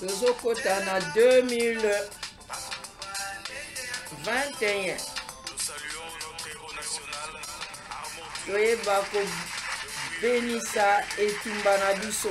tozokota na 2021 toyeba kobenisa etumba na biso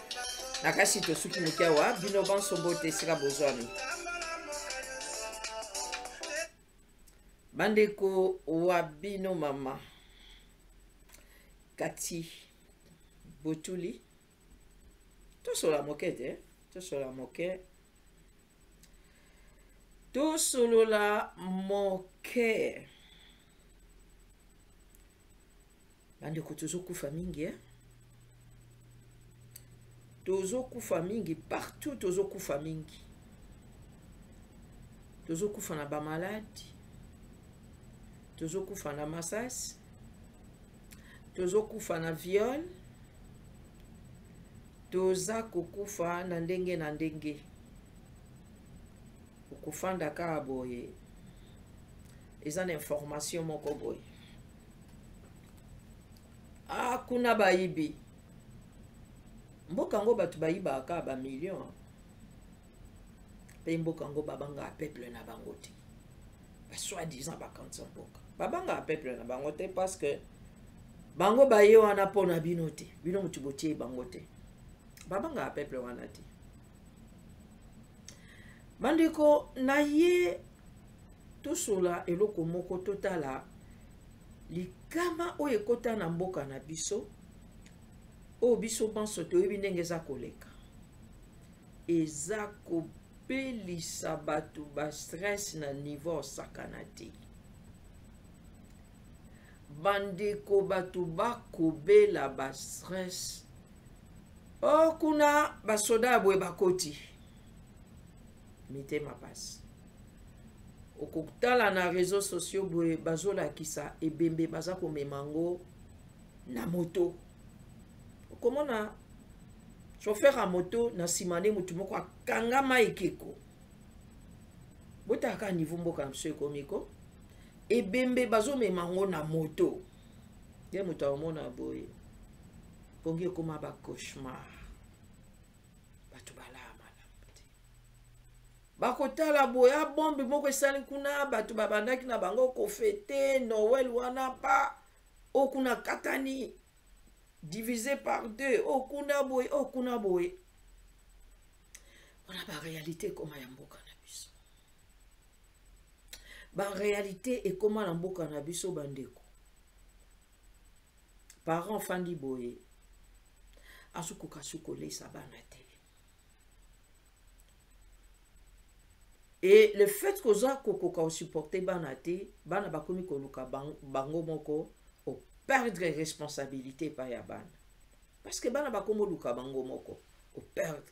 na kasi tosuki moke awa bino banso mbote esika bozwami bandeko wa bino mama kati botuli tosola moke te tosola moke tosolola moke bandeko tozokufa mingi eh? tozokufa mingi partout tozokufa mingi tozokufa na bamaladi tozokufa na masasi tozokufa na viole toza kokufa na ndenge na ndenge okofanda kaka boye eza na information moko boye ah kuna bayibi mboka yango bato bayibaka kaka bamillion mpe mboka yango babangaka peuple na bango te basoi disant bakanisa mboka babangaka peuple na bango te parce que bango baye wana mpo na bino te bino motu botie bango te babangaka peuple wana te bandeko naye tosola eloko moko totala likama oyo ekota na mboka na biso oyo biso banso toyebi ndenge eza koleka eza kobelisa bato bastress na niveau osakana te bandeko bato bakobela bastress o oh, kuna basoda ya boye bakoti mitema pasi okotala na réseau sociaux boye bazolakisa ebembe baza komema yango na moto okomona chauffeur ya moto na nsima nde motu moko akangama ekeko botalaka niveau mboka na biso ekomi ko ebembe bazomema yango na moto nde moto akomona boye pongi ekoma bacauchemar bato balaa malamu te bakotala boya bombe moko esali kuna bato babandaki na bango kofete noel wana pa o kuna katani divise par deux o kuna boye o kuna boye wana barealité ekoma ya mboka na biso barealité ekoma na mboka na biso bandeko parent fandi boye azokoka su kolesa bana te e le fait koza kokoka osupporte bana te bana bakomi koluka bango moko operdre responsabilité epai ya bana parce que bana bakomi oluka bango moko operdre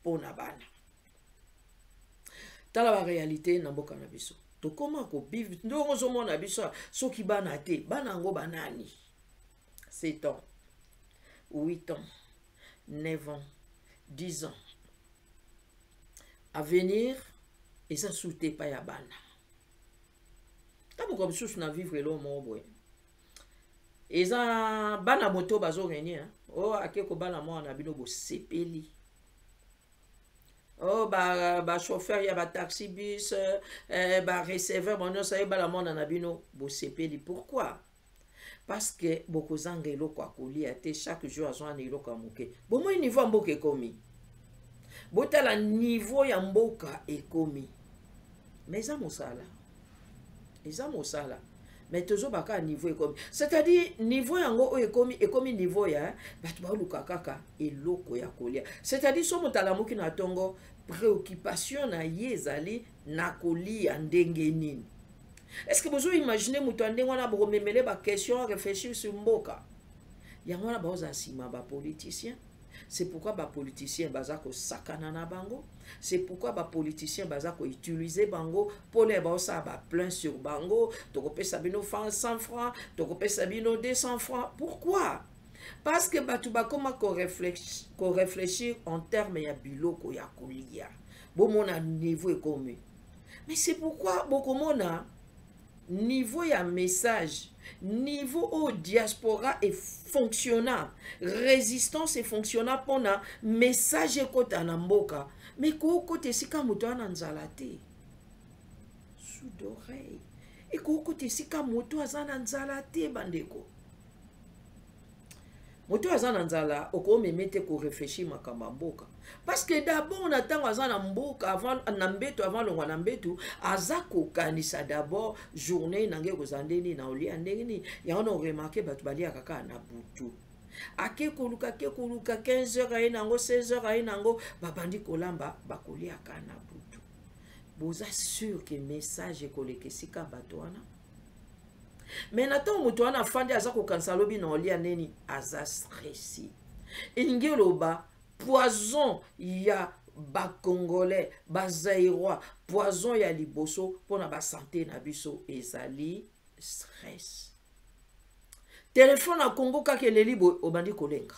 mpo na bana tala barealité na mboka na biso tokóma kobive ndongo ozomona biso soki bana te bana yango banani 7 ans 8 ans 9 ans 10 ans avenir eza sute epai ya bana ntango mosusu na vivre eloo moko boye eza bana moto bazo renye o oh, ake kobala mwana na bino bosepeli oh, ba, ba chauffeur ya ba taxi bus eh, ba receveur bango nyonso ayebala mwana na bino bosepeli pourquoi parce que bokozanga eloko ya kolia te chaque jour azwa na eloko ya moke bomoi niveau ya mboka ekomi botala niveau ya mboka ekomi mais eza mosala eza mosala mais tozomba kaka niveau ekomi c'est-à-dire niveau yango oyo ekomi ekomi niveau ya bato baoluka kaka eloko ya kolia c'est-à-dire so moto alamuki na ntongo préoccupation na ye ezali na kolia ndenge nini est-ce que bozo imagine moto ya ndenge wana bokomemele baquestion réfléchir sur mboka yango wana baozala nsima bapoliticien c'est pourquoi ba politiciens baza ko sakana na bango c'est pourquoi ba politiciens baza ko utiliser bango pour les ba ça ba plein sur bango toko pesa bino 100 francs toko pesa bino 200 francs pourquoi parce que batu ba koma ko réfléchir ko réfléchir en termes ya biloko ya kolia bomona niveau ekomi mais c'est pourquoi bokomona niveau ya message niveau oyo diaspora efonctionna résistance efonctionna mpona message ekota na mboka me kookota esika moto ana nzala te sous d'oreille ekoki kota esika moto aza na nzala te bandeko moto oyo aza na nzala okomeme te koreflechir makambo ya mboka parce que d'abord na ntango aza na mboka avant na mbeto avant longwa na mbeto aza kokanisa d'abord journée na ngai ekozala nde nini na olia ndenge nini yango na oremarke bato baliaka kaka na butu ake koluka ake koluka 15 heures aye nango 16 heures aye nango babandi kolamba bakoliaka na butu boza sur ke message ekoleka esika bato wana me na ntango moto wana afandi aza kokanisa alobi na olia neni aza stresi elingi oloba poison ya bacongolais bazairois poison ya liboso mpo na basante na biso ezali stress telefone ya kongo kaka eleli boye obandi kolenga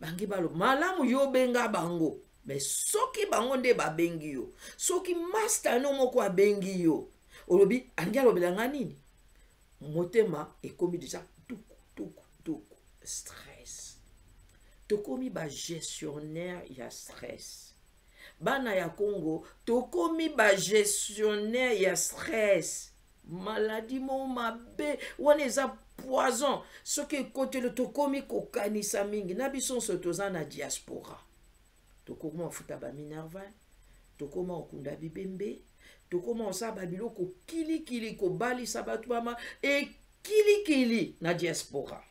bangi balo malamu yo obenga bango me soki bango nde babengi yo soki masta no moko abengi yo olobi alingi alobela nga nini motema ekomi deja tuku tuku tuku stress tokomi bagestionnaire ya stress bana ya congo tokomi bagestionnaire ya stress maladi mo mabe wana eza poison soki ekotelo tokomi kokanisa mingi na biso nso toza na diaspora tokoma kofuta ba minerval tokoma kokunda bibembe tokoma kosala babiloko kilikili kobalisa bato bama ekilikili na diaspora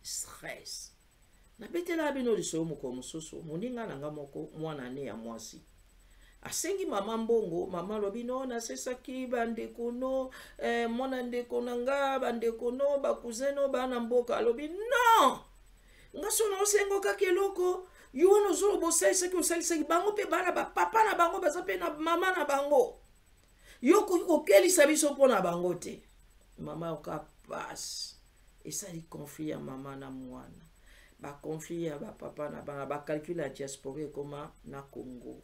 stress nabetelaka bino lisoyo mokolo mosusu moninga na nga moko mwana ne ya mwasi asengi mama mbongo mama alobi no nasesaki bandeko no eh, mwana ndeko na nga bandeko no bakuze no bana mboka alobi non nga so naosenga kaka eloko yo wana ozoloba osalisaki osalisaki bango mpe bana bapapa na bango baza mpe na mama na bango yo okoki kokelisa biso mpo na bango te mama yoka pasi esali conflit ya mama na mwana baconflit ya bapapa na bana bacalcule ya diaspora ekoma na congo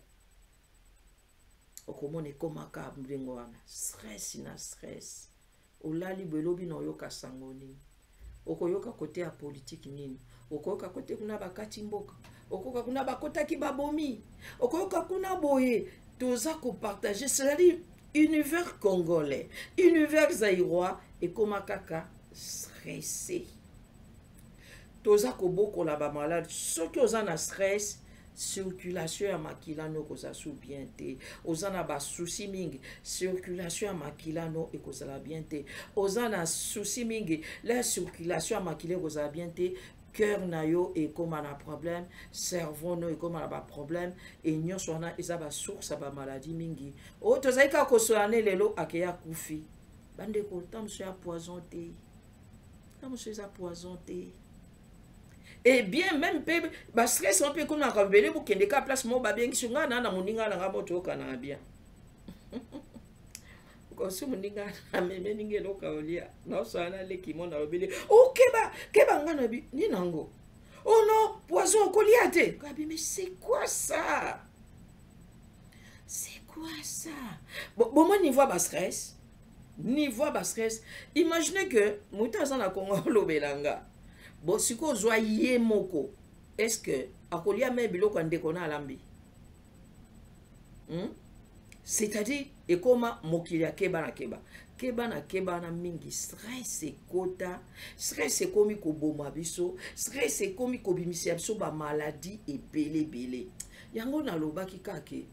okomona ekomaka ndenge wana stress na stress olali boye lobi na oyoka sango nini okoyoka kote ya politiki nini okoyoka kote kuna bakati mboka okoyoka kuna bakotaki babomi okoyoka kuna boye toza kopartage cetadire univers congolais univers zairois ekoma kaka stresse toza kobokola bamalade soki oza na stress circulation ya makila no ekozala su bien te oza na basusi mingi circulation ya makila no ekozala bien te oza na susi mingi la circulation ya makila ekozala bien te cœur na yo ekóma na problème cerveau no ekóma na baproblème e nyonso wana eza basource ya bamaladi mingi oyo tozali kaka kosola ne lelo akeya kufi bandeko ntango mosusu ya poison te na mosusu eza poison te et eh bien même mpe bastress wana mpe ekomaka ebele bokende ka place moko babengisi ngai na na moninga na ngai moko toyokanaka bien osi moninga ameme ndenge eloko aolia naosala na leki mo nalobeli okeba oh, keba ngai na bi nini nango o oh no poison okolia te kabi mais c'est quoi ça c'est quoi ça bomoni niveau ya bastress niveau ya bastress imagine que moto aza na kongo alobela nga bo sikoyo ozwa ye moko est ce que akolia me biloko ya ndeko na alambi hmm? c'est-à-dire ekoma mokili ya keba na keba keba na keba na mingi stress ekota stress ekomi koboma biso stress ekomi kobimisela biso bamaladi ebele ebele yango nalobaki kake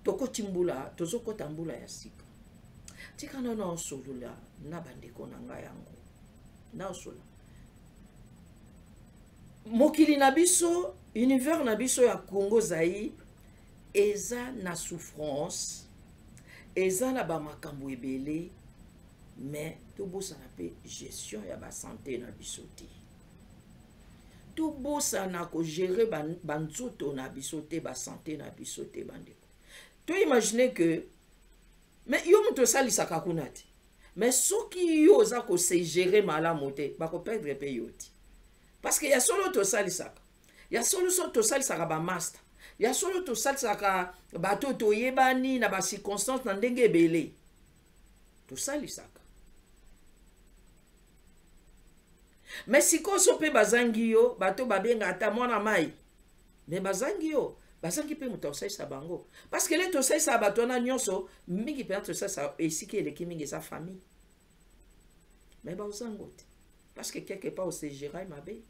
tokoti mbula tozokota mbula ya sika tika na naosolola na bandeko na ngai yango naosolola mokili na biso univers na biso ya congo zaire eza na souffrance eza na bamakambo ebele mais tobosana mpe gestion ya basante na biso te tobosana kogere banzoto na biso te basante na biso te bandeko toimagine ke me yo moto osalisaka kuna te me soki yo oza kosegere malamu te bakoperdre mpe yo te parceke ya solo tosalisaka ya solo so tosalisaka bamasta ya solo tosalisaka bato toyebani na bacirconstance na ndenge ebele tosalisaka me sikoyo so mpe bazangi yo bato babenga ata mwana mai me bazangi yo bazangi mpe moto akosalisa bango parceke le tosalisaka bato wana nyonso mingi mpenza tosalisaka esika eleki mingi eza famille me baozango te parceke quelque part osegerai mabe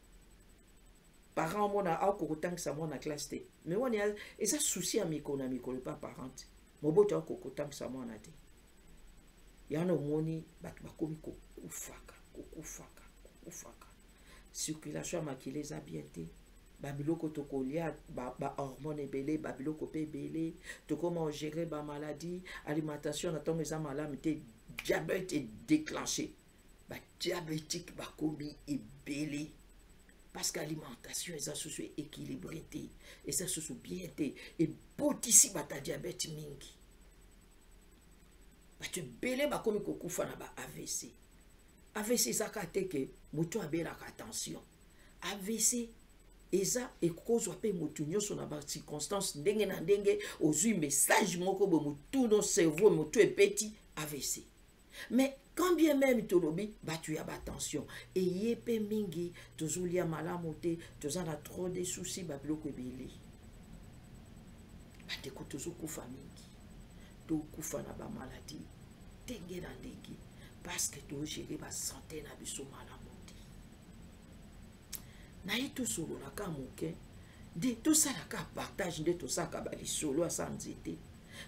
parent omona aokokotangisa mwana classe te me wana eza souci ya mikolo na mikolo epa parent te moboto akoki kotambwisa mwana te yana omoni bato bakomi kokufaka kokufaka kokufaka circulation ya makila eza bien te babiloko tokolia bahormone ba ebele babiloko mpe ebele tokoma ogere bamaladie alimentation na ntongo eza malamu te diabete edeclenche ba diabétique bakomi ebele parce que alimentation eza susu équilibré te eza susu bien te ebotisi bata diabète mingi bato ebele bakomi kokufa na ba avc avc ezaka te ke moto abelaka tension avc eza ekozwa mpe motu nyonso na bacirconstance ndenge na ndenge ozwi message moko boye motunu cerveau motu ebeti avc mais quand bien même tolobi batu ya batension eye mpe mingi tozolia malamu te toza na trop de souci babiloko ebele bandeko tozokufa mingi tokufa na bamaladi ndenge na ndenge parceke togere basante na biso malamu te naye tosololaka moke nde tosalaka partage nde tosalaka balisolo asa nzete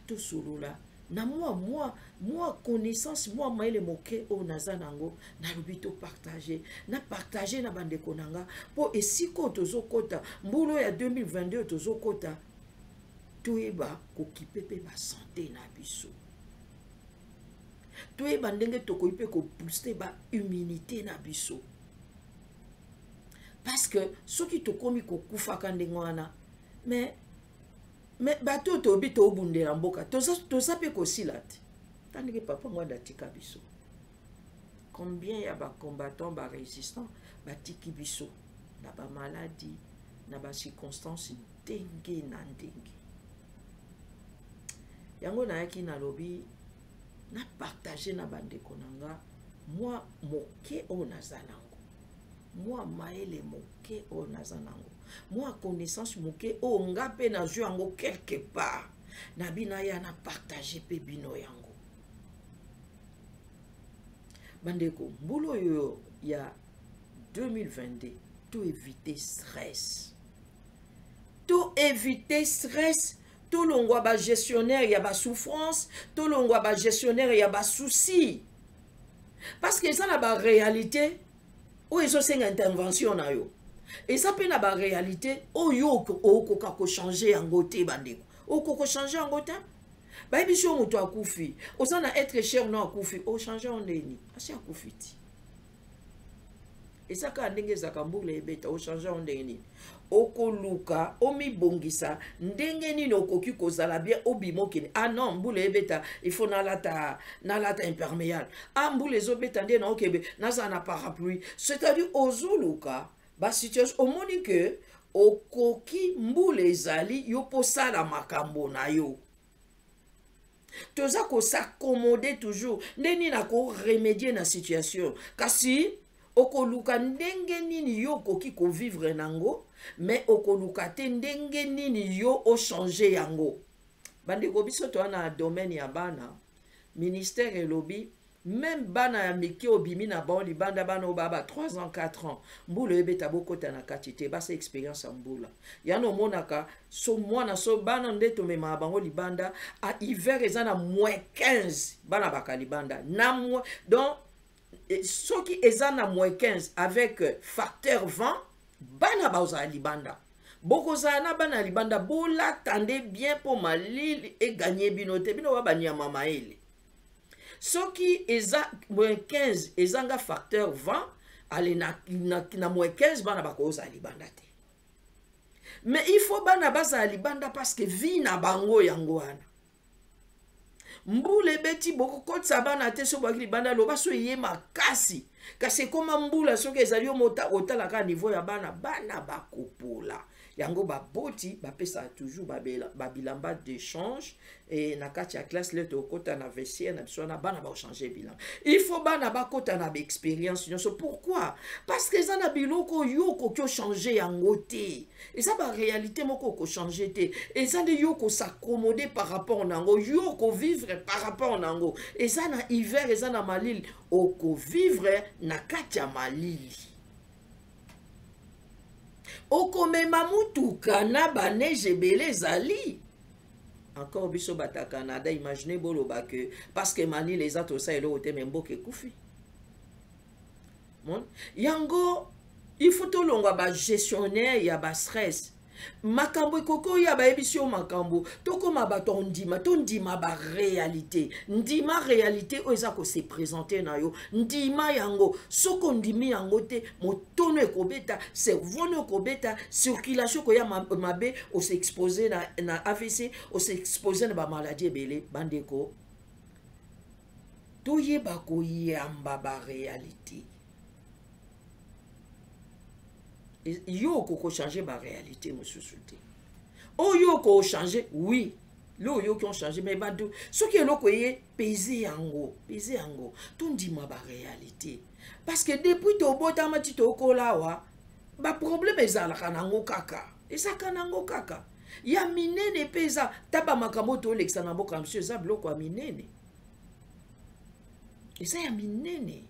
tosolola na mwa mwa mwa connaissance mwa mayele moke oyo naza na yango nalobi topartage na partage na bandeko na nga mpo esika oyo tozokɔta mbula oyo ya 2022 oyo tozokɔta toyeba kokipe mpe basante na biso toyeba ndenge tokoki mpe kobooste baimmunité na biso parce que soki tokomi kokufaka ndenge wana mais me bato oyo tobi tobundela mboka toza mpe kosila te ta ndenge papa mwanda atika biso combien ya bacombattant barésistant batiki biso na bamaladi na bacirconstance ndenge na ndenge yango nayaki nalobi napartage na bandeko na nga mwa moke oyo naza nango mwa mayele moke oyo naza nango mwa connaissance moke oyo nga mpe nazwi yango quelque part na bina ya na partage mpe bino yango bandeko mbula oyo ya 2022 to éviter stress to éviter stress tolongwa bagestionnaire ya basouffrance tolongwa bagestionnaire ya basusi parce que eza na baréalité oyo ezosenga intervention na yo eza mpe na baréalité oyo okoka kochange yango te bandeko okoka kochange yango te bayebi so moto akufi oza na être cher no akufi ochange yango ndeni asi akufi ti eza kaka ndenge ezaka mbula ebeta ochange yango ndenge nini okoluka omibongisa ndenge nini okoki kozala bien obima okende ah non mbula ebeta ifo nalata nalata imperméable ah mbula ezobeta nde naokebe nazala na parapluie c'est-à-dire ozoluka basituation omoni ke okoki mbula ezali yo mpo osala makambo na yo toza kosaccomode toujours nde nini akoremedie na situation kasi okoluka ndenge nini yo okoki kovivre nango me okoluka te ndenge nini yo ochange yango bandeko biso toa na domaine ya bana ministère elobi meme bana ya mike obimi na bango libanda bana oyo baa ba 3 ans 4 ans mbula ebeta bokota na kati te basa experience ya mbula yana omonaka so mwana so bana nde tomemaka bango libanda a hiver eza na moins 15 bana baka libanda na moins donc eh, soki eza na moins 15 avec euh, facteur vent bana baozala libanda bokozala na bana ya libanda bolata nde bien mpo malili eganye bino te bino ba banyama mayele soki eza moins 15 ezanga facteur 20 ale na, na, na moins 15 bana bakozala libanda te mais il faut bana bazala libanda parce que vie na bango yango wana mbula ebeti bokokotisa bana te soki boyaki libanda loba so eye makasi kasi ekoma mbula soki ezali yo motala kaka niveau ya bana bana bakopola yango baboti bapesaka toujours babilamba ba dechange e, na kati ya classe lete okota na vestiaire na biso wana bana baochange bilamba il faut bana bakota na baexpérience nyonso pourquoi parce que eza na biloko yo okoki ochange yango te eza baréalité moko okochange te eza nde yo okosaccomode par rapport na yango yo okovivre par rapport na yango eza na hiver eza na malili okovivre na kati ya malili okomema motuka na baneige ebele ezali encore biso bata canada imagine boloba ke parce que manile eza tosa eloko te me mboka ekufi yango il faut tolongwa bagestionnaire ya bastress makambo ekoki oya bayebisi yo makambo tokóma bato ya ondima tondima baréalité ndima réalité oyo eza kose présente na yo ndima yango soki ondimi yango te motono ekobeta cerveau no ekobeta circulation ekoya mabe ose expose na, na avc ose expose na bamaladi ebele bandeko toyeba koyamba baréalité yo okokochange baréalité mosusu te oyo okochange oui lo oyoki ochange mai bado soki eloko eye peze yango peze yango tondima baréalité parce que depuis tobotama ti tokola awa baproblème ezalaka nango kaka ezalaka nango kaka ya minene mpe eza ta bamakambo tolekisa na mboka mosusu eza biloko ya minene eza ya minene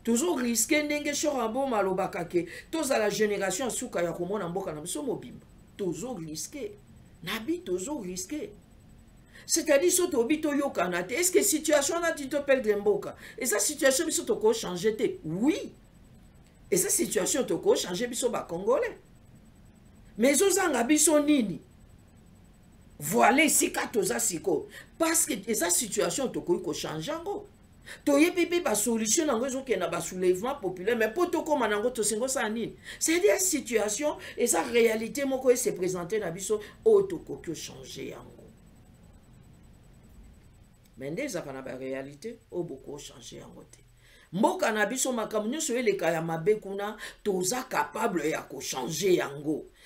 tozo riske ndenge shor aboma alobaka ke tozala génération ya suka ya komona mboka na biso mobimba tozo riske na bi tozo riske c'est-à-dire so tobi toyokana te estce que situation wana ti toperdre mboka eza situation biso toko change te oui eza situation toko change biso bacongolais mais ezozanga biso nini voile esika toza sikoyo parce que eza situation tokoki kochange yango toyebi mpe basolution na yango ezokenda basoulèvement populaire mais mpo tokóma na yango tosengi osala nini c'est-à-dire situation eza réalité moko ese présente na biso oyo tokoki ochange yango mais nde ezalaka na baréalité oyo bokoki ochange yango te mboka na biso makambo nyonso eleka ya mabe kuna toza capable ya kochange yango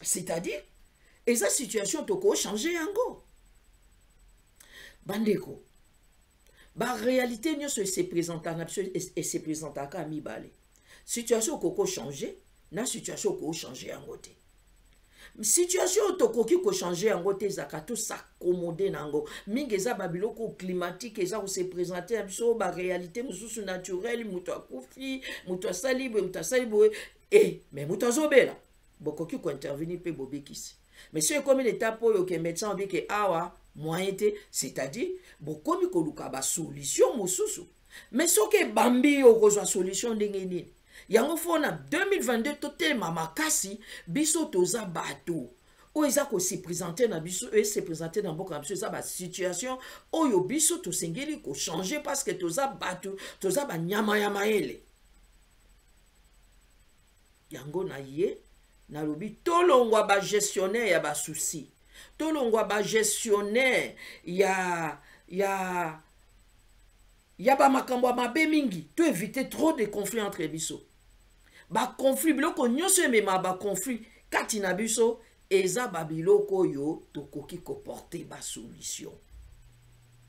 c'est-à-dire eza situation tokochange yango bandeko baréalité nyonso esepresentaka na biso esepresentaka ya mibale situation okoko change na situation okoko change yango te situation oyo tokoki kochange yango te ezalaka tosakomode na yango mingi eza babiloko climatique eza kose présente na biso baréalité mosusu naturele moto akufi moto asali boye moto asali boye e me moto azobela bokoki kointervenir mpe bobikisi mais soki ekomi na etape oyo ke médecin obi ke awa moyen te c'est-à-dire bokomi koluka basolution mosusu mais soki ebambi yo okozwa solution ndenge nini yango fo na 2022 totelema makasi biso toza bato oyo eza kosepresente na biso esepresente na mboka na biso eza basituation oyo biso tosengeli kochange parce que toza bato toza banyama ya mayele yango na ye nalobi tolongwa bagestionnaire ya basusi tolongwa bagestionnaire ya ya ya bamakambo ya mabe mingi to éviter trop de conflit entre biso baconflit biloko nyonso emema baconflit kati na biso eza babiloko oyo tokoki koporte basolution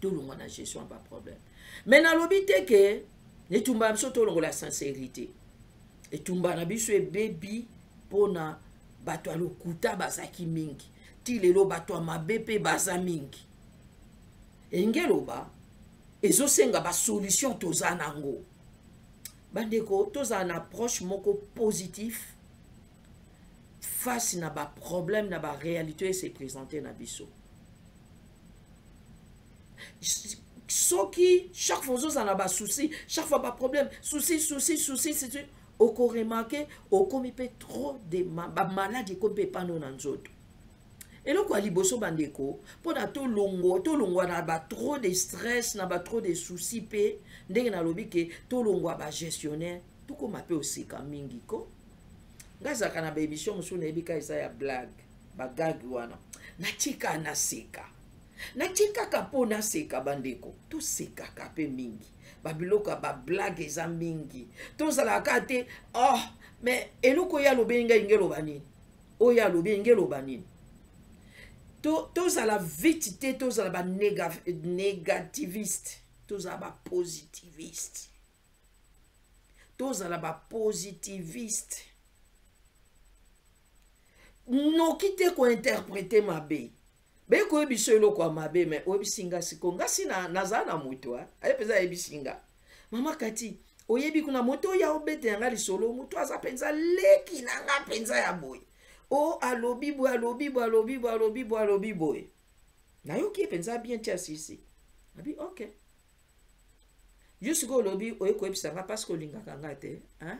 tolongwa na gestion ya baproblème mais nalobi te ke etumba na biso tolongola sincérité etumba na biso ebebi mpo na bato ya lokuta bazalaki mingi ti lelo bato ya mabe mpe baza mingi elingi eloba ezosenga basolution toza nango bandeko tozala na approche moko positif face na ba problème na ba réalité se présenter na biso soki chaque fois ozozala na basouci chaque fois baproblème souci souci souci souci okoremarke okomi mpe trop de bamaladi ekomi mpe epano na nzoto eloko ya liboso bandeko mpo na tolongwa tolongwa na batro de stress na batro de souci mpe ndenge nalobi ke tolongwa bagestionnaire tokoma mpe oseka mingi ko ngai azalaka na baémission mosusu nayebi ka eza ya blague bagage wana natika naseka natikaka mpo naseka bandeko tosekaka mpe mingi babiloko ya bablage eza mingi tozalaka kaka te oh mais eloko oyo alobi elingi elingi eloba nini oyo alobi elingi eloba nini tozala to vite te tozala banégativiste tozala bapositiviste tozala bapositiviste noki te kointerprete mabe beko oyebisa eloko ya mabe me oyebisi nga siko ngasi nazala na moto aye mpenza ayebisi nga mama kati oyebi kuna moto oyo aobete ya nga lisolo moto aza mpenza leki na nga mpenza ya boye o oh, alobi boye alobi boye alobi boye alobi boye alobi boye nayoki ye mpenza bien ti asisi abi ok yo sikoyo olobi oye koyebisa nga parce que olingaka nga te hein?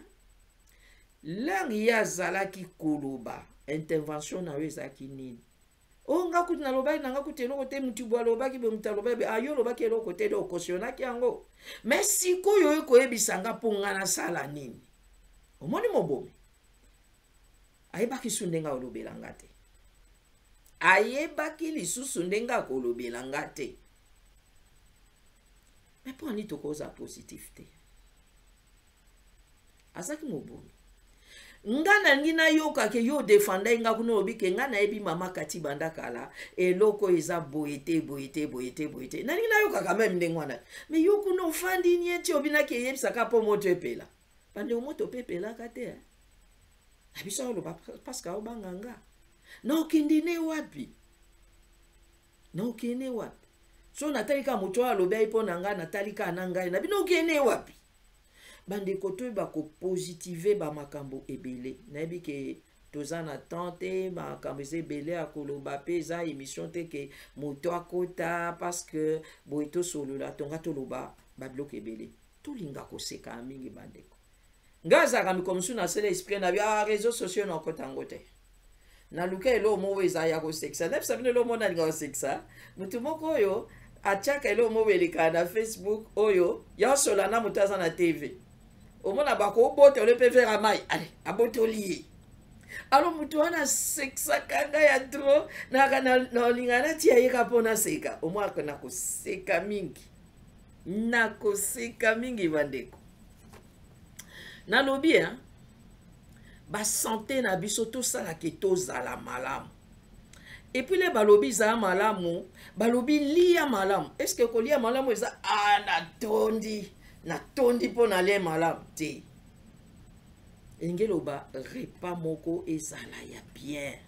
langue ye azalaki koloba intervention na yo ezalaki nini o oh, nga kutu nalobaki na nga kutu eloko te motu bo alobaki bo motu alobaki ayo ah, olobaki eloko te de okosionaki yango me sikoyo oye koyebisa nga mpo nga nasala nini omoni mobomi ayebaki su ndenge olobela nga te ayebaki lisusu ndenge akolobela nga te me mpo ani tokoza positif te azalaki mobomi nga nalingi nayoka ke yo odefandai nga kuna olobi ke nga nayebi mama kati banda kala eloko eza boye te boye te boye te boye te nalingi nayokaka meme ndenge wana me yo kuna ofandi nie ti obinaki eyebisaka mpo moto epela bandeko moto mpe epelaka te eh? na biso oloba paske aobanga nga na okindi ne wapi na okende wapi so natali kaka moto oyo alobi ayi mpo na ngai natali kaka na ngai na bino okende wapi bandeko toyeba kopositive bamakambo ebele nayebi ke toza na temps te makambo eza ebele ya koloba mpe eza émission te ke moto akota parce que boye tosolola tonga toloba babiloko ebele tolinga kosekana mingi bandeko Nga azalaka mikolo mosusu nasala esprit na bia ah, réseaux sociaux na okota yango te naluka eloko moko oyo eza ya kosekisa nayebisa bino eloko moko nalinga kosekisa motu moko oyo atiaka eloko moko elekaka na facebook oyo yaosola na moto aza na tv omona bakobota ole mpe vera mai ale abotoli ye alo motu wana asekisaka ngai ya tro naka nalinga natia yeka mpo naseka omwaka nakoseka mingi nakoseka mingi bandeko nalobi hein basante na biso tosalaka tozala malamu epuis le balobi zala malamu balobi lia malamu estce kolia malamu eza a ah, natondi natondi mpo na lie malamu te elingi eloba repas moko ezala ya bien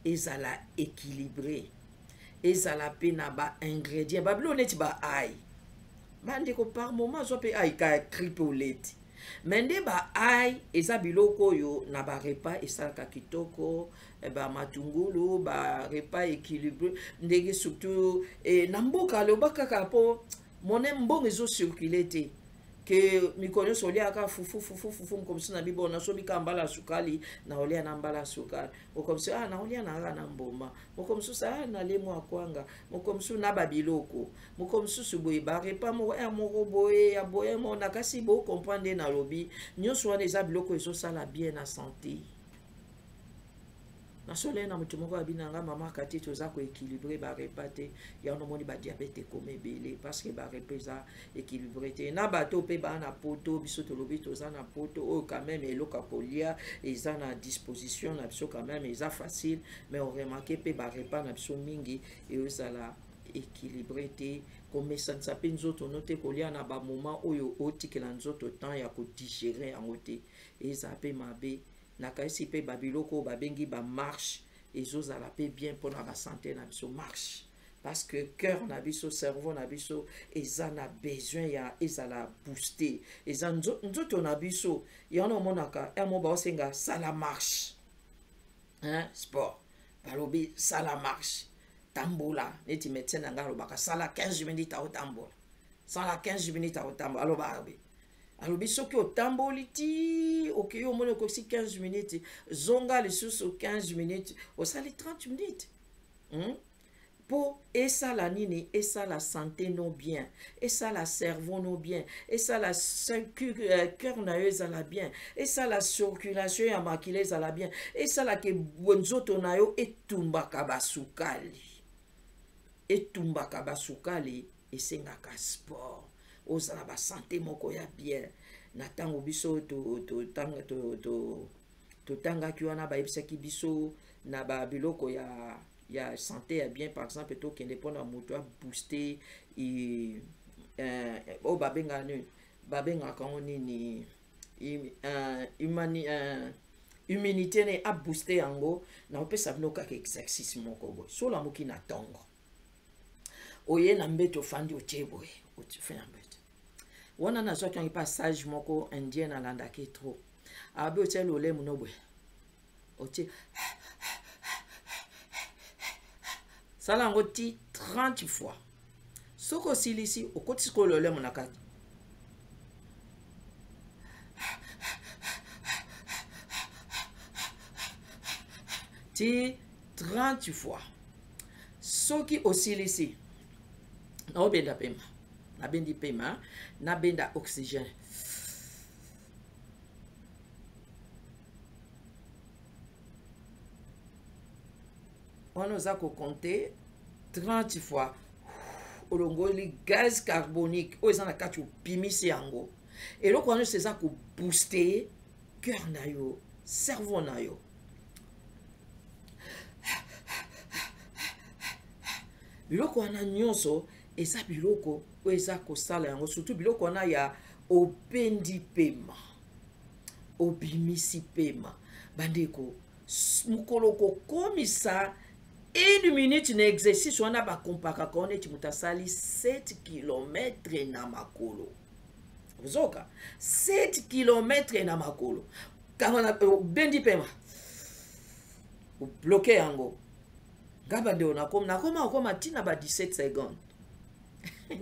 ezala équilibré ezala mpe na ba ingrédient babilo neti ba ai bandeko par moment azwa mpe ai ka cripe oleti me nde ba ai eza biloko oyo na barepa esalaka kitoko eh, bamatungulu barepa équilibre ndenge surtout eh, na mboka aloba kaka mpo mone mbongo ezo circule te ke mikolo nyonso oliaka fufu fufu fufu mokomisi na bibo naso bika mbala ya sukali na olia na mbala ya sukali mokomisi ah na olia na kaka na mboma mokomisusu ah na lemo ya kwanga mokomisusu na babiloko mokomisusu boye barepa moko ya eh, moko boye ya boye mo na kasi bocomprendre nde nalobi nyonso wana eza biloko ezosala bien na sante nasolai na moto moko abi na nga mama kati toza koéquilibre barepa te yango nomoni badiabete ekoma ebele parceke barepa eza équilibre te na bato mpe baa na poto biso tolobi toza na poto oyo quand même eloko ya kolia eza na disposition na biso quand même eza facile mais oremake mpe barepa na biso mingi eozala équilibre te komesanisa mpe nzoto no te kolia na bamoma oyo otikela nzoto temps ya kodigere yango te eza mpe mabe nakanisi mpe babiloko oyo babengi bamarche ezozala mpe bien mpona basante na biso marche parce que cœur na biso cerveau na biso eza na besoin ya ezala booste eza nzoto na biso yango omonaka yamo baosenga sala marche hein? sport balobi sala marche tambola neti médecin na ngai alobaka sala 15 minutes aotambola sala 15 minutes aotambola alobaka alobi soki otamboli ti okei omoni okokisi 15 minutes zonga lisusu 15 minutes osali 30 minutes hmm? mpo esala nini esala sante no bien esala cerveau no bien esala euh, cœur na yo ezala bien esala circulation ya makila ezala bien esala ke nzoto na yo etumbaka basukali etumbaka basukali esengaka sport ozala basante moko ya bien na ntango biso totangaki wana bayebisaki biso na babiloko ya ya sante ya bien par exemple tokende mpona moto abooste eh, oyo babengaka nini babengaka yango nini eh, eh, immunité ne abooste yango nakopesa bino kaka exercice moko boye solamoki na ntongo oye na mbete ofandi otie boye otife na mbete wana nazwaki yango epa sage moko indien nalandaki trop abe otie lolemu no boye otie sala yango ti 30 fois soki osilisi okotisi ko lolemu na kati ti 30 fois soki osilisi naobenda pema nabendi pema nabenda oxygène wana oza kokonte 30 fois olongoli gaz carbonique oyo eza na kati opimisi yango eloko wana nyonso eza kobooste cœur na yo cerveau na yo biloko wana nyonso eza biloko oyo eza kosala yango surtout biloko wana ya obendi pema obimisi pema bandeko mokolo kokomisa une minute na exercice wana bakompakaka wana eti moto asali 7 kilometre na makolo ozoka 7 kilometre na makolo kanga na obendi pema obloke yango nga bandeko nakoma nakoma okoma ntina ba 17 seconde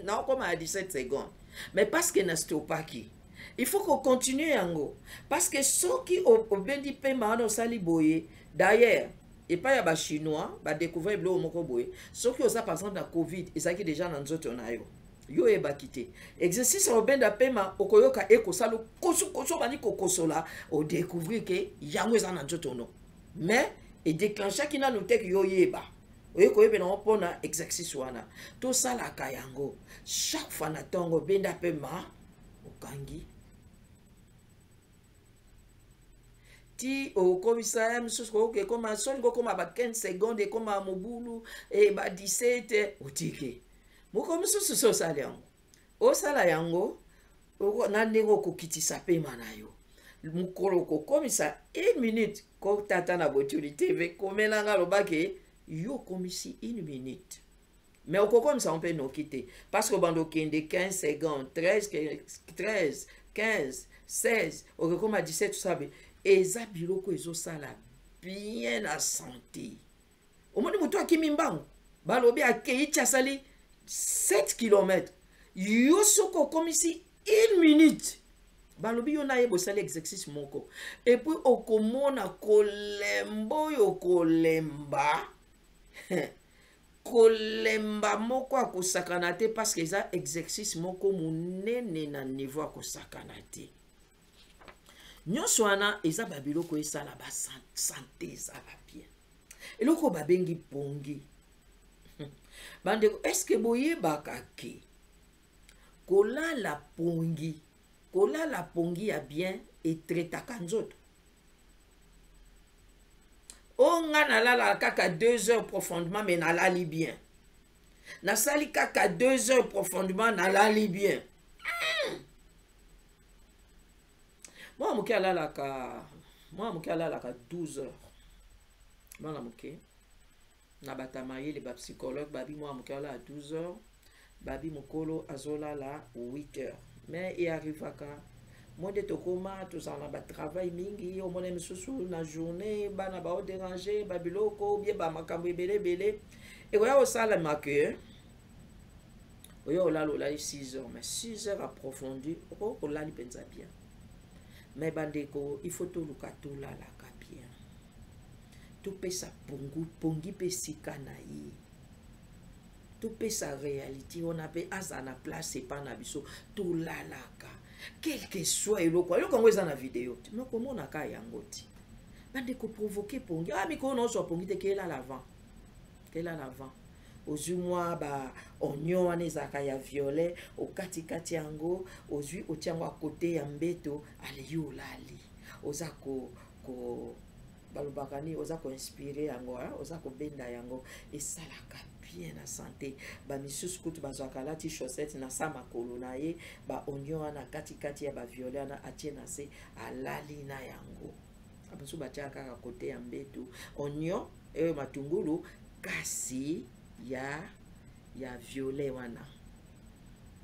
nakoma ya 17 seconde mais parce que na stopaki il faut kocontinue yango parce que soki obendi mpema wana osali boye d'ailleurs epai ya bachinois badecouvrir biloko moko boye soki oza par exemple na covid ezalaki déjà na nzoto na yo yo oyebaki te exercice ya obenda pema okoyoka ekosala kosukosu obandi kokosola odecouvrir ke yango eza na nzoto no mais edeclenchaki nanu teke yo oyeba oye koyebela yango mpona exercice wana tosalaka yango chaque fois na ntongo obenda pema okangi ti okomisa ya mosusu koyoka ekoma soni kokoma ba 15 seconde ekoma mobulu e ba 17 otiki moko mosusu so osali yango osala yango na ndenge okokitisa pema na yo mokolo kokomisa une minute kotata na botuli tv komela nga lobake yo okomisi une minute mais okokomisa yango mpe noki te parce que obanda okende 15 seconde 13 13 15 16 okekoma 17 sabe eza biloko ezosala bien na sante omoni motu akimi mbangu balobi akei ti asali 7 km yo soki okomisi une minute balobi yo na ye bosali exercice moko epuis okomona kolemba oyo kolemba kolemba moko akosakana te parceke eza exercice moko monene na niveau akosakana te nyonso wana eza babiloko esala basante ezala bien eloko babengi pongi bandeko eske boyebaka ke kolala pongi kolala pongi ya bien etretaka nzoto o nga nalalaka kaka deux heures profondément mais nalali bien nasali kaka deux heures profondément nalali bien hmm. mwana moke alalaka mwana moke alalaka 12 heures mwana moke na batamayele bapsychologue babi mwana moke alala 12 heures babi mokolo azolala 8 heures mais e arrivaka moi nde tokoma tozala na batravail mingi omona misusu na journée bana baoderange babiloko bie bamakambo ebele ebele, ebele. ekoya kosalema ke oyo olala olali 6 heures mais 6 heures approfondi okoki kolali mpenza bien mais bandeko il faut toluka tolalaka bien topesa pongu pongi mpe esika na ye topesa réalité wana mpe aza na place epa na biso tolalaka quelque soit eloko eloko yango eza na video te me komonaka yango te bandeko provoke pongi ah mikolo na oso apongi te kelala avant elala avant ozwi mwa ba onyon wana ezalaka ya violet okatikati yango ozwi otya yango akote ya mbeto aleyi olali oza ko, ko balobaka nini oza koinspire yango hein? oza kobenda yango esalaka bien na sante bamisusu kutu bazwaka alati chaussette na sa makolo na ye baonio wana katikati ya baviolet wana atie na se alali na yango bamosusu batyaka kaka kote ya mbetu onio eyo matungulu kasi ya ya violet wana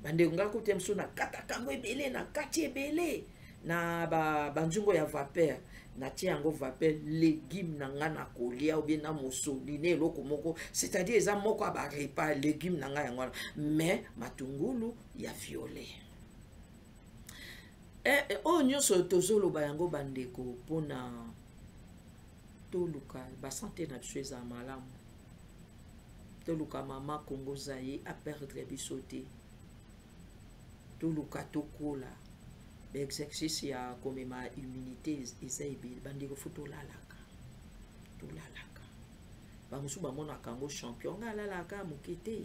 bandeko ngai kote mosusu nakataka yango ebele na kati ebele na banzungo ya vapeur natie yango vapeur legume na ngai na kolia obie na mosoli na eloko moko c'est-à-dire eza moko ya barepa legume na ngai yango wana mais matungulu ya violet eh, eh, oyo nyonso tozoloba yango bandeko mpona toluka basante na biso eza malamu toluka mama kongo zaye aperdre biso te toluka tokola baexercice ya komema immunité eza ebele bandeko fo tolalaka tolalaka bamosusu bamonaka yango champion nga alalaka moke te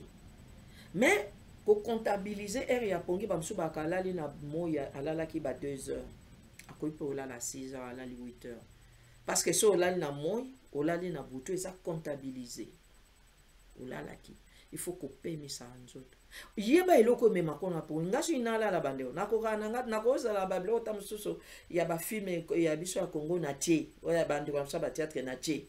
mais ko comptabiliser heure ya pongi bamosusu bakalali na moi alalaki ba 2 heures akoki mpe olala 6 heures alali 8 heures parce que so olali na moi olali na butu eza comptabiliser olalaki il faut kopemisa nzoto yeba eloko emema kona po nga soki nalala bandeko nakokaka na nga nakozala babiloko ta mosusu ya bafilme ya biso ya congo na tie oyo ya bandeko ya mosusu ya bateatre na tie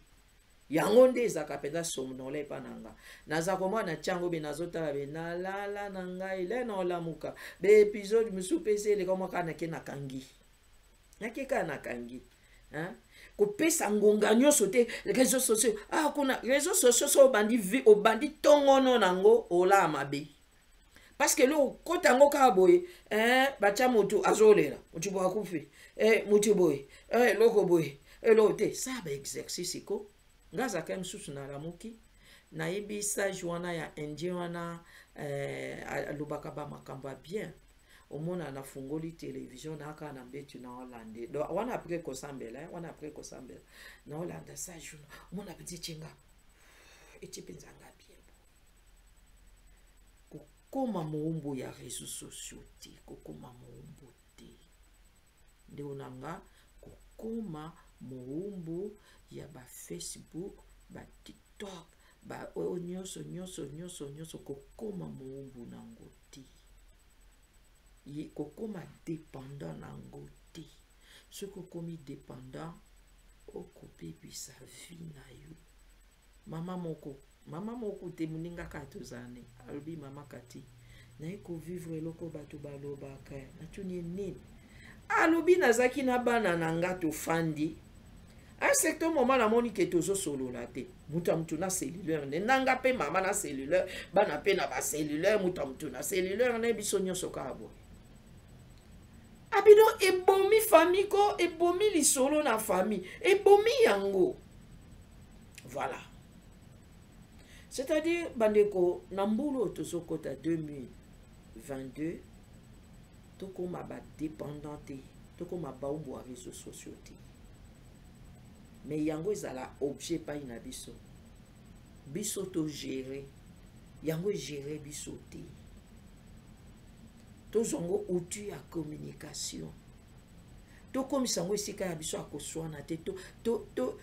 yango nde ezalaka mpenza somnola epa na nga naza komona na ntiango be nazotala be nalala na ngai le na olamuka baepisode mosusu mpe esi eleka mwaka nake nakangi nake kaka nakangi kopesa ngonga nyonso te réseau sociaux ah kuna réseau sociaux so obandi vi obandi tongono nango olaa mabe parce que eloko kota yango kaka boye eh, batya motu azolela motu boye akufi eh, motu boye eh, eloko boye eloko te sa baexercice ko nga azalaka mosusu nalamuki nayebi sage wana ya indien wana eh, alobaka bamakambo ya bien omona nafungoli televizio naka na mbeti na olande do wana apres kosambela eh, wana apres kosambela na olanda sage omona petit chinga eti mpenza nga kokoma moumbu ya réseau sociaux te kokoma moumbu te ndeko na nga kokoma moumbu ya ba facebook ba tiktok ba oyo nyonso nyonso nyonso nyonso kokoma moumbu na yango te kokoma dépendant na yango te soki okomi dépendant okobebisa vie na yo Mama moko, mama moko te moninga kaka tozala ne alobi mama kati naye kovivre eloko bato balobaka natuni ye nini alobi nazalaki na bana na nga tofandi un certain moment namoni ke tozosolola te moto ya moto na cellulaire nde nanga mpe mama na cellulaire bana mpe na bacellulaire moto ya moto na cellulaire nde biso nyonso kaka boye abino ebomi fami ko ebomi lisolo na fami ebomi yango voilà c'est-à-dire bandeko na mbulu oyo tozokota 2022 tokóma badépendant te tokóma baumbu ya réseau sociaux te mais yango ezala objet epai na biso biso togere yango egere biso te tozwa yango outil ya communication tokomisa yango esika ya biso ya koswana te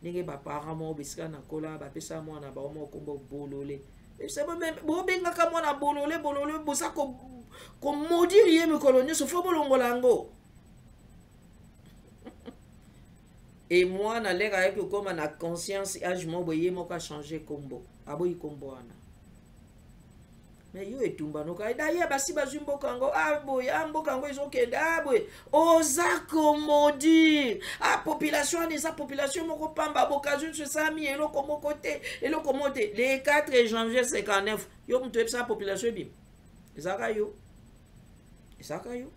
ndenge baparent moko bisika na kola bapesa mwana bango moko nkombo bolole bobengaka mwana bolole bolole boza komodire ye mikolo nyonso fo bolongola yango e mwana leka ayaki kokoma na conscience age moko boye ye moko achange nkombo aboyi nkombo wana mais yo etumba noka daye basi bazwi mboka yango a ah, boye a ah, mboka yango ezokende a ah, boye oza komodir a population wana eza population moko pamba bokazwi nso esami eloko moko te eloko moko te le 4 janvier 59 yo moto oyebisaka population ebima ezalaka yo ezalaka yo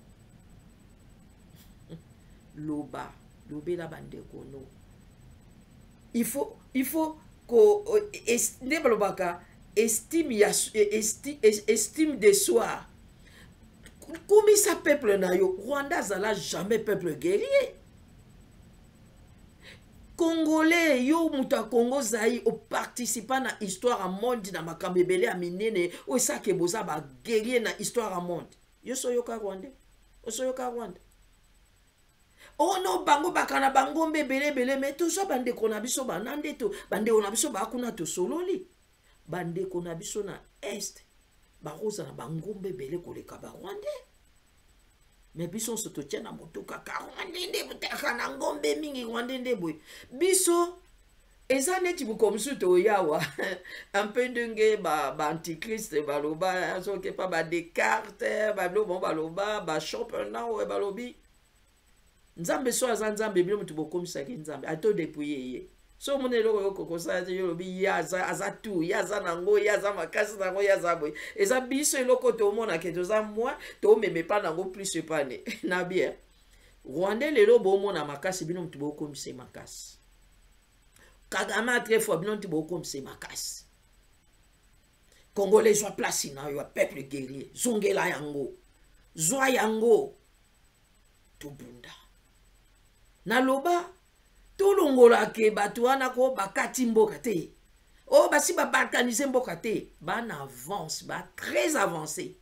loba lobela bandeko no il faut il faut ko euh, nde balobaka estime ya e, esti, e, estime de soi kumisa peuple na yo rwanda azala jamais peuple guerrier congolais yo moto ya congo ozali oparticipa na histoire ya monde na makambo ebele ya minene oyo esake boza baguerrier na histoire ya monde yo soyoka rwandais osoyoka rwanda ono oh bango baka na bangombe ebele ebele me toza bandeko na biso bana nde bandeko na biso bakuna tosololi bandeko na biso na est bakozala bangombe ebele koleka barwandais me biso nso totya na motuka ka rwande nde botaka na ngombe mingi rwande nde boye biso eza neti bokomisi toyawa un peu ndenge baantichrist ba baloba soki pa badecarte babilo bango baloba bashopenau balobi nzambe so aza nzambe bino moto bokomisaki nzambe ato depuye ye so omoni eloko yoko kosala te yo olobi ye aza, aza tu ye aza nango ye aza makasi nango ye aza boye eza biso eloko tomonake toza mwa tomema epa nango plus epa ne na bien rwandais lelo bomona makasi bino moto bokomisa makasi kagame a très fort bino nti bokomisa makasi congolais zwa place na yo ya peuple guerrier zongela yango zwa yango tobunda naloba tolongolake bato wana ko bakati mboka te oyo oh, basi babalkanise mboka te bana avance ba très avancé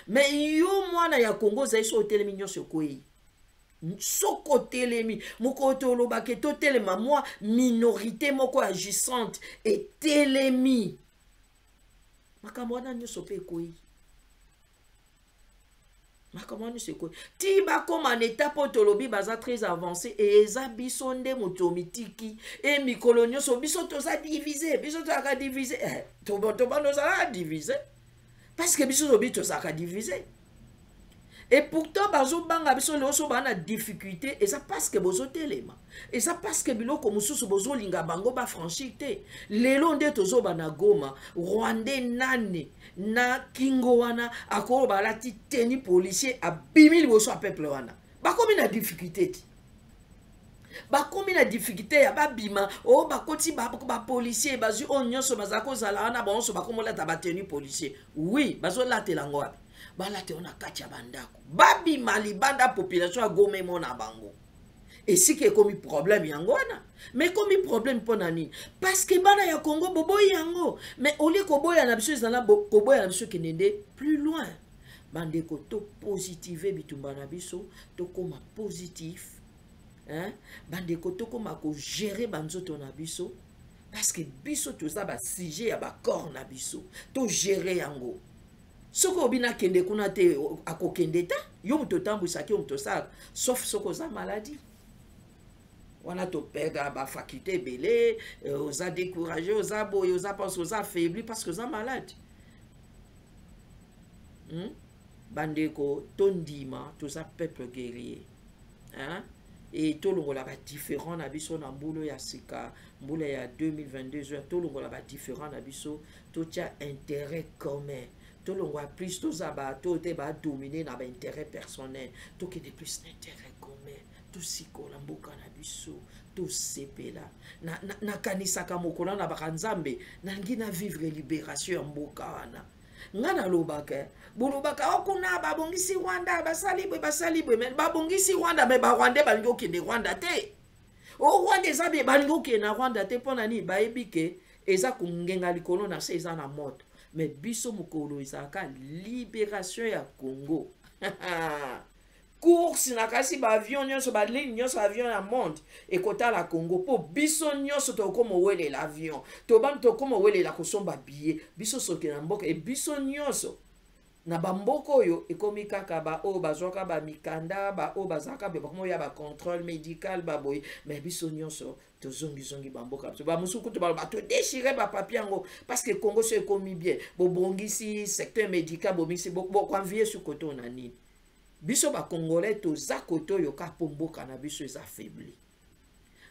me yo mwana ya kongo ozali so otelemi nyonso ekwei soko otelemi mokolo tolobaka totelema mwa minorité moko ya gisante etelemi makambo wana nyonso mpe ekwei makambo wana nyonso ekwei ti bakóma na etape oyo tolobi baza très avancé eza biso nde moto mitiki e mikolo nyonso biso toza divise biso tozalaka divise eh, tobana ozalaka divise parce que biso lobi tozalaka divise et pourtant bazobanga biso lelo so baa na difficulté eza parce que bozotelema eza parce que biloko mosusu bozolinga bango bafranchir te lelo nde tozoba na goma rwandais nani na kingo wana akoloba alati teni policier abimi liboso ya peuple wana bakomi na difficulté te bakomi na difficulté ya babima o oh, bakoti bapolicier ba bazwi oyo nyonso bazala kozala wana bango nyonso bakomolata batenu policier oui bazolatela yango wapi balata yango na kati ya bandako babima libanda population ya goma emona bango esika ekomi problème yango wana me ekomi problème mpo na nini parceke bana ya congo boboyi yango me olie koboya na biso ezala koboya na biso ekende nde plus loin bandeko topositive bitumba na biso tokóma positif hein? bandeko tokoma kogere banzoto na biso parce que biso toza basujet ya bacorps na biso togere yango soki obi nakende kuna te akokende ta yo moto otambwisaki yo moto osalaka sauf soki oza maladie wana topeka bafaculte ebele euh, oza décourage oza boye oza pense oza affaibli parce que oza malade hmm? bandeko tondima toza peuple guerrier hein? e tolongola badifférent na biso na mbula ya sika mbula ya 2022 tolongola badifférent na biso totya intérêt commun tolongwa plus toza bato te badomine na baintérêt personnel tokende plus na intérêt commun tosikola mboka na biso tosepela nakanisaka na, na mokolo na baka nzambe nalingi na vivre libération ya mboka wana nga nalobaka eh, bolobaka o oh, kuna babongisi rwanda basali bwe basali bwe me babongisi rwanda me barwandais balingi okende rwanda te o oh, rwanda eza bye balingi okende na rwanda te mpo na nini bayebi ke eza kongenga likolo na se eza na moto me biso mokolo ezalaka liberation ya congo course na kasi ba avion nyonso ba ligne nyonso avion ya monde ekotala congo mpo biso nyonso tokokoma owelela avion tobandi tokoma owelela kosomba biye biso soki na mboka e biso nyonso na bamboka oyo ekomi kaka baoyo bazwaka bamikanda baoyo bazalaka be bakoma oyo ya bacontrole médical baboye me biso nyonso tozongizongi bamboka biso bamosusu kutu baloba todechire bapapie yango parce que congo so ekomi bien bobongisi secteur médical bomisi bokoanvie sukoto na nini biso ba congolais toza kote oyo kaka mpo mboka na biso eza faibli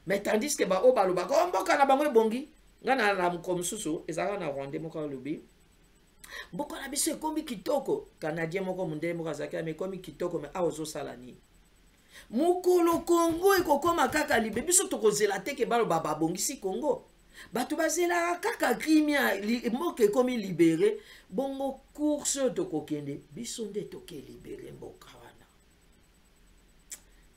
mais tandis ke baoyo balobaka o oh, mboka na bango ebongi ngai na la mokolo mosusu ezalaka na rwandais moko alobi mboka na biso ekomi kitoko canadien moko mondele moko azalaki ame ekomi kitoko me awa ozosala nini mokolo congo ekokoma kaka libe biso tokozela te ke baloba babongisi congo bato bazelaka kaka krimia mboka ekomi libere bongo course oyo tokokende biso nde toke libere mboka wana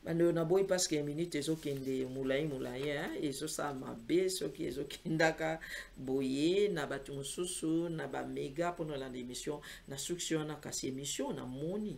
bandoyo naboyi parceke minute ezokende molai molai ezosala mabe soki ezokendaka boye na bato mosusu na bamega mpona olanda emission na suksi wana kasi emission namoni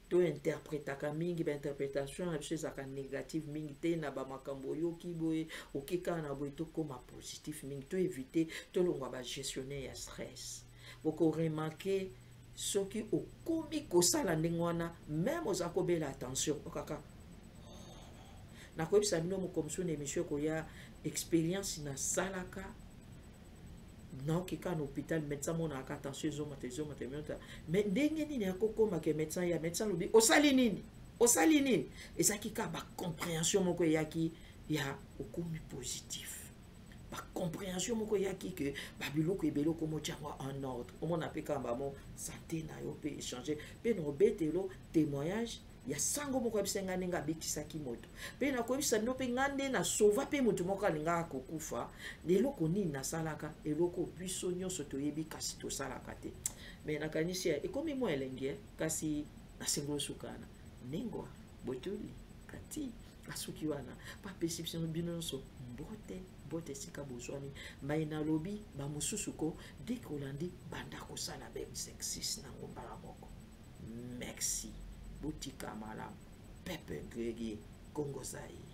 to interpretaka mingi ba interpretation na biso ezalaka négative mingi te na ba makambo oyoki boye okika na boye tokoma positif mingi to éviter tolongwa ba gestionnaire ya stress boko remarquer soki okomi kosala ndenge wana meme oza kobela attention okaka nakoyebisa bino mokomosu na émission ekoya expérience nasalaka naoki kaka na hôpital médecin amonaka kaka tension ezomata ezomata emota mais ndenge nini akokoma ke médecin ya médecin alobi osali nini osali nini ezalaki kaka bacompréhension moko eyaki ya okomi positif bacompréhension moko eyaki ke babiloko ebele okomotya yango en ordre omona mpe kaka bamo sante na yo mpe échange mpe na obetelo témoignage ya sango moko ayebisa ngai ndenge abetisaki moto mpe nakoyebisa bino mpe ngai nde nasova mpe moto moko alingaka kokufa eloko nini nasalaka eloko biso nyonso toyebi kasi tosalaka te me nakanisi ekomi mwa elengi eh? kasi nasengeli osukana nengwa botuli kati asuki wana bapesi biso bino nyonso mbote mbote esika bozwami mai nalobi bamosusu ko deke olandi banda kosala bemsexis nango mbala moko merci botika malamu pepe gregi kongo zaire